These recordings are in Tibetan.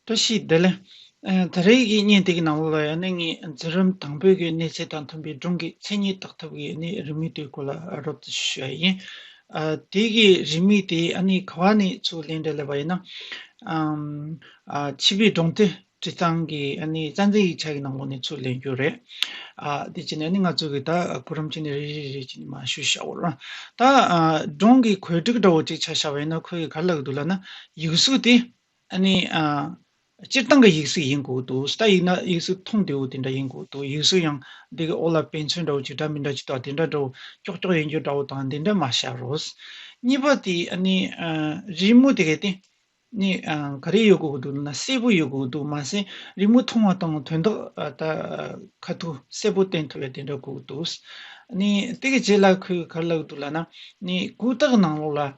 བཀྲ་ཤིས་བདེ་ལེགས། ད་རེས་ཀྱི་བརྙན་དེ་གི་ནང་ལོ་ལ་ཡང་ནི་ངས་འཛིན་རིམ་དང་པོའི་གི་གནས་ཚད་དང་མཐུན་པའི་སྒྲུང་གི་མཚན་ཉིད་བཏགས་ཐུབ་ཀྱི་ནི་རིན་མིག་དེའི་སྐོར་ལ་རོབ་རྩིས་ཤིག་ཞུ་ཡ་ཡིན། དེའི་གི་རིན་མིག་དེ་ཨ་ནི་ག་བ་ནས་ཚུར་ལེན་འདྲ་ལེ་བ་ཡིན་ན། བྱིས་པའི་སྒྲུང་དེ་བྲིས་སྟངས་གི་ཨ་ནི་རྩ་འཛིན་ཡིག་ཆ་གི་ནང་ལོ་ནས་ཚུར་ལེན་རྒྱུ་རེད། དེ་བྱས་ནས་ནི་ང་ཚོས་གི་ད་གོ་རིམ་གྱི་ནི་རེ་རེ་རེ་གྱི་ནི་མ་ཞུས་ཤའོ། ད་སྒྲུང་གི་གོལ་སྒྲིག་འདྲ་བོ་གཅིག་བྱ་ཤ་བ་ཡིན་ན་ཁོས་ག་ལ་ལགས་འདུག་ལ་ན། ཡིག་གཟུགས་དེ་ཨ་ནི། སྤྱིར་བཏང་གི་ཡིག་གཟུགས་ཡིན་དགོས་འདུག་ཟླ་ཡིག་ན་ཡིག་གཟུགས་མཐོང་བདེ་བོ་དེ་འདྲ་ཡིན་དགོས་འདུག་ཡིག་གཟུགས་ཡང་འདི་གི་འོག་ལ་དཔེ་མཚོན་འདྲ་བོ་ཅིག་འདྲ་མི་འདྲ་ཅིག་དང་དེ་འདྲ་འདྲ་བོ་ཀྱོག་ཀྱོག་ཡན་གྱོན་འདྲ་བོ་དང་འདི་འདྲ་མ་བཞག་རོགས། གཉིས་པ་དེ་ཨ་ནི། རི་མོ་དེ་གའི་སྟེང་ནི་ག་རེ་ཡོད་དགོས་འདུག་ན་གསལ་པོ་ཡོད་དགོས་འདུག་མ་ཟད་རི་མོ་མཐོང་བ་དང་དོན་དག་དག་ཁ་ཐུག་གསལ་པོ་བསྟན་ཐུབ་པའི་དེ་འདྲ་དགོས་འདུག་ཨ་ནི། དེ་གི་རྗེས་ལ་ཁོས་ག་རེ་ལབ་འདུག་ལ་ན་ནི་གུས་རྟགས་ནང་ལོགས་ལ་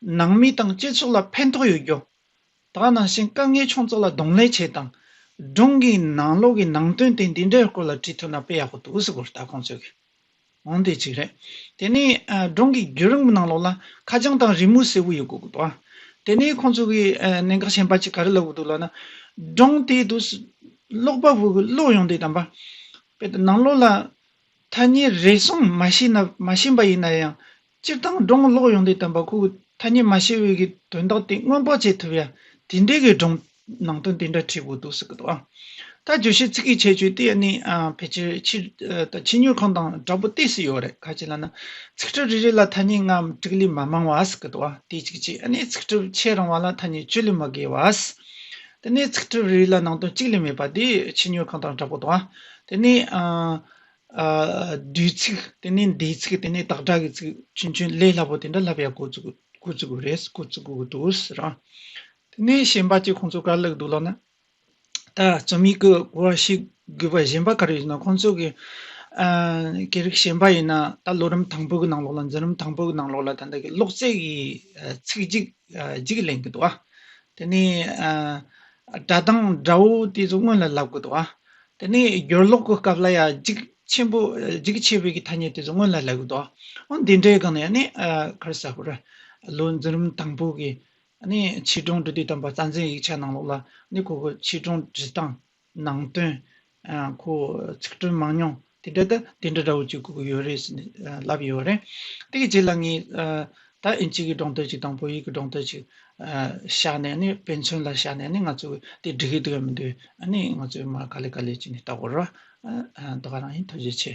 ནང་མི་དང་སྤྱི་ཚོགས་ལ་ཕན་ཐོགས་ཡོད་རྒྱུ། དག་སྣང་ཞིང་དཀའ་ངལ་ཆུང་ཚགས་ལ་གདོང་ལེན་བྱས་དང། སྒྲུང་གི་ནང་ལོག་གི་ནང་དོན་དེ་འདི་འདྲའི་སྐོར་ལ་བྲིས་ཐུབ་ན་དཔེ་ཡག་པོ་འདུག་ཟེར་སྐོར་ལྟ་གོང་ཚོད་གི་འོང་དེ་གཅིག་རེད། དེ་ནས་སྒྲུང་གི་བརྒྱུད་རིམ་གྱི་ནང་ལོག་ལ་ཁ་བྱང་དང་རི་མོ་གསལ་བོ་ཡོད་དགོས་ཀྱི་འདུག་དེ་ནས་ཁོང་ཚོ་གིས་གནད་འགག་གཞན་པ་གཅིག་ག་རེ་ལབ་ཀྱི་འདུག་ལབ་ན། སྒྲུང་དེའི་དུས་སུ་ཀློག་པ་པོ་གི་བློ་ཡོངས་དེ་དམ་པ། དཔེར་ན་ནང་ལོག་ལ་ཐ་སྙད་རེ་ཟུང་མ་ཤེས་མ་ཤེས་པ་ཡིན་ན་ཡང་སྤྱིར་བཏང་སྒྲུང་ཀློག་ཡོང་དུས་དམ་པ་ཁོ་བོས་ཐ་སྙད་མ་ཤེས་འོས་ཀྱི་དོན་དག་དེ་སྔོན་དཔག་བྱེད་ཐུབ་ཡ་དེ་འདྲའི་གི་སྒྲུང་ནང་དོན་དེ་འདྲ་བྲིས་དགོས་འདུག་ཟེར་གི་འདུག་ཨང། ད་བརྗོད་བྱའི་ཚིག་གི་ཁྱད་ཆོས་དེ་ནི་ཕལ་ཆེར་ཕྱིར་དང་ཕྱི་ཉོས་གང་དང་འདྲ་པོ་དེ་སུ་ཡོད་རེད་ཁ་ཅིག་ལ་ན་ཚིག་གྲུབ་རེ་རེ་ལ་ཐ་སྙད་ལྔ་འམ་དྲུག་ལས་མ་མང་བ་ཟེར་གི་འདུག་ཨང་དེ་གཅིག་གཅིག་ཨ་ནི་ཚིག་གྲུབ་ཕྱེད་རིང་བ་ལ་ཐ་སྙད་བཅུ་ལས་མ་བརྒལ་བ། དེ་ནས་ཚིག་གྲུབ་རེ་རེ་ལ་ནང་དོན་གཅིག་ལས་མེད་པ་དེ་ཕྱི་ཉོས་གང་དང་འདྲ་པོ་འདུག་ཨང་དེ་ནི། བསྡུས་ཚིག་དེ་ནས་འདས་ཚིག་དེ་ནས་དག་སྒྲ་གི་ཚིག་ཆུན་ཆུན་ལས་སླ་པོ་དེ་འདྲ་ལྷ་བྷེ་ཡ་གོ་ཚུགས་གོ་ཚུགས་གོ་རེད་གོ་ཚུགས་གོ་འདུག་རང་དེ་ནས་གཞན་པ་གཅིག་ཁོང་ཚོ་ག་ལེགས་འདུག་ལབ་ན། ད་རྩོམ་ཡིག་གི་གོ་བ་ཞིག་དགོས་པ་གཞན་པ་ག་རེ་ཡོད་ན་ཁོང་ཚོ་གི་སྐད་རིགས་གཞན་པ་ཡིན་ན་ད་ལོ་རིམ་དང་པོ་གི་ནང་ལོགས་ལ་འཛིན་རིམ་དང་པོ་གི་ནང་ལོགས་ལ་ད་ལྟ་གི་ཀློག་རྩལ་གྱི་ཚིག་གཅིག་གཅིག་ལེན་གི་འདུག་ཨ། དེ་ནས་སྒྲ་གདངས་སྒྲ་འུ་དེ་ཚོ་སྔོན་ལ་ལབ་གི་འདུག་ཨ། དེ་ནས་སྦྱོར་ཀློག་གི་སྐབས་ལ་ཡང་འཇིགས་ཆེན་པོ་འཇིགས་ཆེ་བའི་ཐ་སྙད་དེ་ཚོ་སྔོན་ལ་ལེགས་འདུག་ཨོ་འདི་འདྲའི་སྒང་ནས་ནི་ཁར་གསལ་པོར་ལོ་འཛིན་རིམ་དང་པོ་གི་ནི་ཆོས་སྒྲུང་འབྲི་དུས་དམ་པ་རྩ་འཛིན་ཡིག་ཆ་ནང་ལོགས་ལ་ནི་ཁོ་གི་ཆོས་སྒྲུང་འབྲི་སྟངས་ནང་དོན་ཁོ་ཚིག་སྒྲོས་མང་ཉུང་དེ་འདྲ་དེ་འདྲ་འདྲ་བོ་བཅུག་གི་ཡོད་རེད་ཟེར་ནས་ལབ་ཡོད་རེད་དེ་གི་རྗེས་ལ་ངས་ད་ཨིན་ཅིག་གི་སྒྲོང་དོད་ཅིག་དང་བོད་ཡིག་གི་སྒྲོང་དོད་ཅིག་བཞག་ནས་ནི་དཔེ་མཚོན་ལ་བཞག་ནས་ནི་ང་ཚོས་དེ་འགྲིག་གི་འདུག་ཡ་མི་འདུག་ཨ་ནི་ང་ཚོས་མ་ག་ལེ་ག་ལེ་བྱས་ནས་ལྟ་དགོས་ར། ད་ག་རང་ཡིན་ཐུགས་རྗེ་ཆེ།